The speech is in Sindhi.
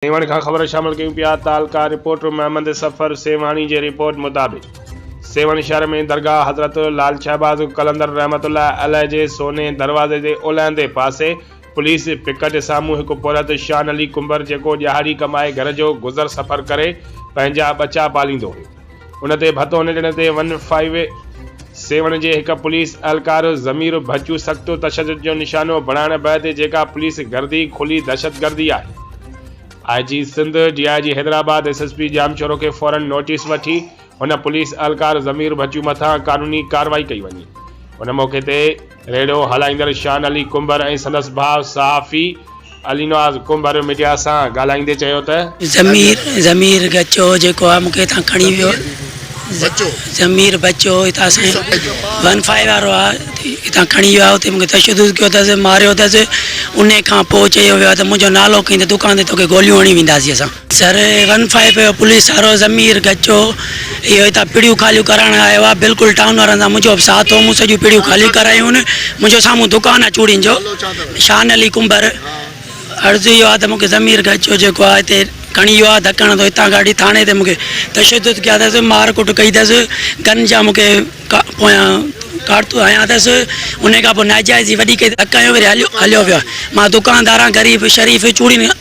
سيوهڻ کان خبرون شامل ڪيون پيا تعلقه رپورٽر محمد صفر سيوهاڻي جي رپورٽ مطابق سيوهڻ شهر ۾ درگاهه حضرت لعل شهباز قلندر رحمت الله عليه جي سوني دروازي جي اولهندي پاسي پوليس پڪٽ سامهون هڪ پورهيت شان علي ڪنڀر جيڪو ڏيهاڙي ڪمائي گهر جو گذر سفر ڪري پنهنجا ٻچا پاليندو هيو ان تي ڀت هن ڏڻ تي ون فائيو سيون جي هڪ پوليس اهلڪار ضمير ڀچو سخت تشدد جو نشانو بڻائڻ بعد جيڪا پوليس گردي کلي دهشت گردي آهي I G Sindh D I G Hyderabad S S P Jamshoro کي فورن نوٽيس وٺي هن پوليس اهلڪار ضمير ڀچو مٿان قانوني ڪارروائي ڪئي وڃي ان موقعي تي ريڙهو هلائيندڙ شان علي ڪنڀر ۽ سندس ڀاء صحافي علينواز ڪنڀر ميڊيا سان ڳالهائيندي چيو ته. ضمير، ضمير ڳچو جيڪو آ مونکي هتان کڻي ويو آ ضمير بچو هتان سائين ون فائيو وارو آ هتان کڻي ويو آ اتي مونکي تشدد ڪيو تس ماريو تس انهي کان پوء چيو ويو آ ته منهنجو نالو کڻين ته دڪان تي توکي گوليون هڻي وينداسين اسان. سر ون فائو پيو پوليس سارو ضمير گچو اهو هتان پڙيون خاليون ڪرائڻ آيو آ بلڪل ٽائون وارن سان منهنجو به ساٿ هو مون سڄيون پڙيون خاليون ڪرايون منهنجو سامهون دڪان آ چوڙين جو شان علي ڪنڀر عرض اهو آ ته مونکي ضمير گچو جيڪو آ هتي کڻي ويو آ ڌڪڻ تو هتان ڪاڍي ٿاڻي تي مونکي تشدد ڪيا اٿس مار ڪٽ ڪئي اٿس گن جا مونکي پويان ڪارتوس هنيا اٿس انهي کان پوء ناجائز جي وڏي ڪئي ڌڪ هنيو وري هليو ويو مان دڪاندار آ غريب شريف چوڙين